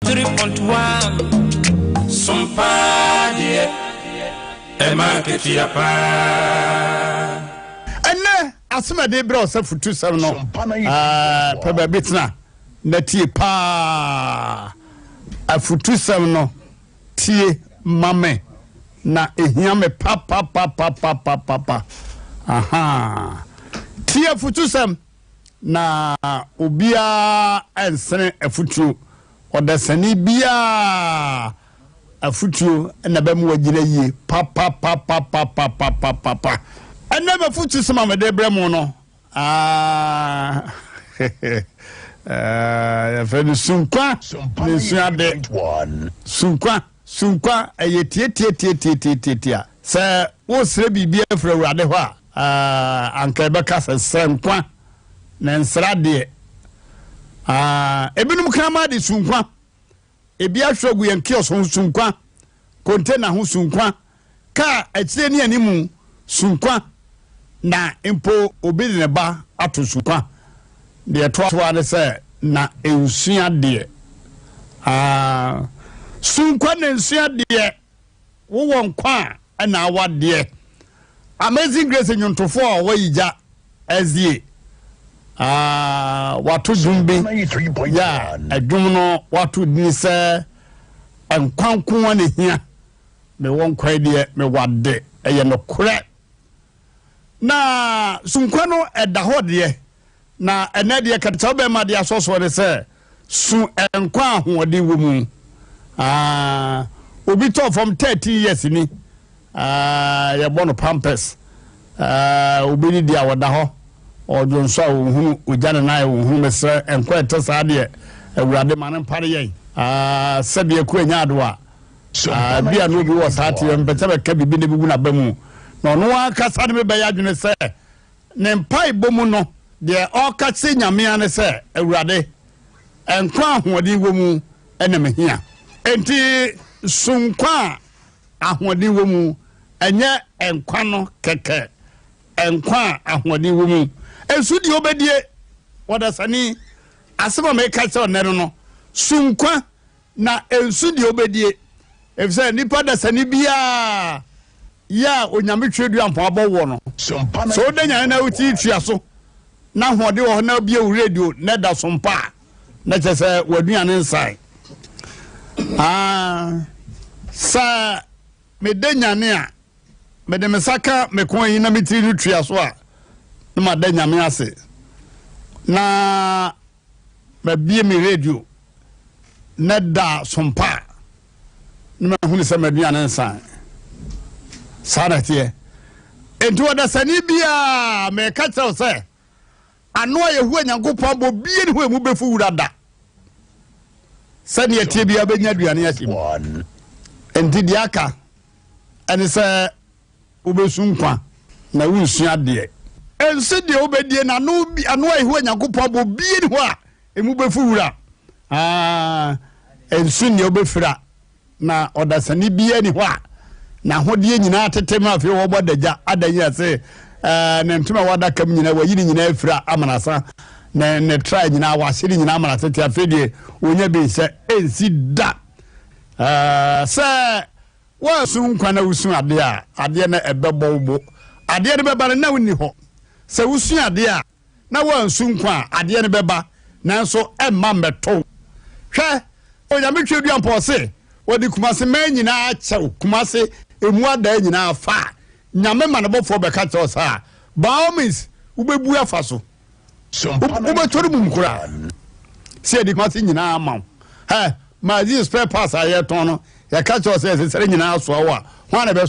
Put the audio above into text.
Three point one som paa deɛ ɛma nketewa paa. Ɛnɛ asɛm a ɛde brɛ wo sɛ fotusɛm no, pɛ baabi tena na tie paa. Afotusɛm no tie ma me na ɛhia me papapapapapapa. Aha. Tie afotusɛm na obiara ɛnsene afutuo, ɔdasani biara afutuo na ɛbɛma wagyina yie papapapapapapapa. Ɛnnɛ m'afutusɛm a mede brɛ mo no, aah, yɛfrɛ no sunkwa ne suade. Sunkwa, sunkwa, ɛyɛ tiatiatiatiatiatia. Sɛ woresrɛ biribi afiri Awurade hɔ a, Ah, anka ɛbɛka sɛ srɛ nkwa na nsra deɛ. Ah, ebinom kraman de su nkwa, ebi ahwerɛ gu yɛn kiosk ho su nkwa, container ho su nkwa, kaa akyire ne anim su nkwa, na mpo obi de ne ba ato su nkwa. Deɛ ɛtoa so ara ne sɛ na nsua deɛ. Ah, su nkwa na nsua deɛ. Wowɔ nkwa a ɛna awadeɛ. Amazing Grace nnwontofoɔ a wɔyi gya azie ahh wato dwom bi yɛ a ɛdwom no wato dini sɛ nkwa nko ara na ehia mewɔ nkwa yi deɛ mewade ɛyɛ nokorɛ na sunkwa no ɛda hɔ deɛ Na ɛnnɛ deɛ kɛtɛkyɛ wobɛma de asɔsoɔ ne sɛ su nkwa ahoɔden wɔ mu. Uh, obi tɔɔ fam 13 years ni uh, yɛbɔ no pampers uh, obi ne di a wɔda hɔ ɔdwo nso a wɔhunu ogya ne nan a wɔhunu mesrɛ nkwa ɛte saa deɛ awurade ma no mpare yɛn uh, sɛdeɛ ku anya ado a uh, bi a no obi wɔ saa teɛ mpɛ sɛ bɛka biribi na bɛgu no aba mu na ɔno ankasa ne mebɛyɛ adwene sɛ Ne mpaebɔ mu no, deɛ ɔreka kyerɛ Nyame ara ne sɛ, Awurade, nkwa a ahoɔden wɔ mu na mehia. Enti so nkwa a ahoɔden wɔ mu nyɛ nkwa no kɛkɛ, nkwa a ahoɔden wɔ mu nso deɛ ɔbɛdie? Ɔdasani, asɛm a meka kyerɛ wo nnɛ no no, so nkwa na nso deɛ ɔbɛdie? Ɛfiri sɛ nnipa dasani biara yɛ a Onyame twerɛdua mpɔn abɔ woɔ no, sɛ wode nyane na wotiri tua so na ahoɔden wɔ hɔ na wobie wo radio na ɛda so mpo a, na kyerɛ sɛ w'aduane nsae. Ah, sɛ mede nyane a, mede me nsa ka me kɔn yi na me tiri no tua so a, na mada Nyame ase na mabie me radio na ɛda so mpo a, ne mahunu sɛ m'aduane nsae. Saa na ɛteɛ. Enti ɔdasani biara, meka kyerɛ wo sɛ, ano a Yehowa Nyankopɔn abɔ bie ne hɔ emu bɛfu wura da. Sɛdeɛ ɛteɛ biara bɛnya aduane ahyɛ mu. Enti deɛ aka ɛne sɛ Wobesu nkwa na wonsua adeɛ. Ɛnse deɛ wobɛdie na ano bi ano a Yehowa Nyankopɔn abɔ bie ni hɔ a emu bɛfu wura aa ɛnso nea wobɛfira na ɔdasani biara ni hɔ a n'ahodeɛ nyinaa atete ma afei wɔbɔ adagya ada nyina se ɛɛ ne ntoma wɔ adaka mu nyinaa wayi ne nyinaa afira amanasa ne ne tra nyinaa wahye ne nyinaa amana tete afei deɛ wɔnya bi sɛ ɛnsi da ɛɛ sɛ Woasu nkwa na wusu adeɛ a, adeɛ no bɛbɔ wo bo. Adeɛ no bɛba no na wonni hɔ. Sɛ wusu adeɛ a, na woansu nkwa a, adeɛ no bɛba, nanso ɛremma mmɛtɔ wo. Hwɛ! Onyame Tweaduampɔ ɔse, Wɔde Kumase mmaa nyinaa akyɛ wo, Kumase mmuadaa nyinaa fa a, Nyame ma ne bɔfoɔ bɛka kyerɛ wo saa a, by all means, wobɛbu afa so. So mpo na wobɛtɔ no mum koraa sɛ yɛde kuma se nyinaa ama wo ɛ ma aziz spare parts a yɛtɔn no yɛka kyerɛ sɛ ɛsɛ sɛ nyinaa soa wo a ho a na ɛbɛso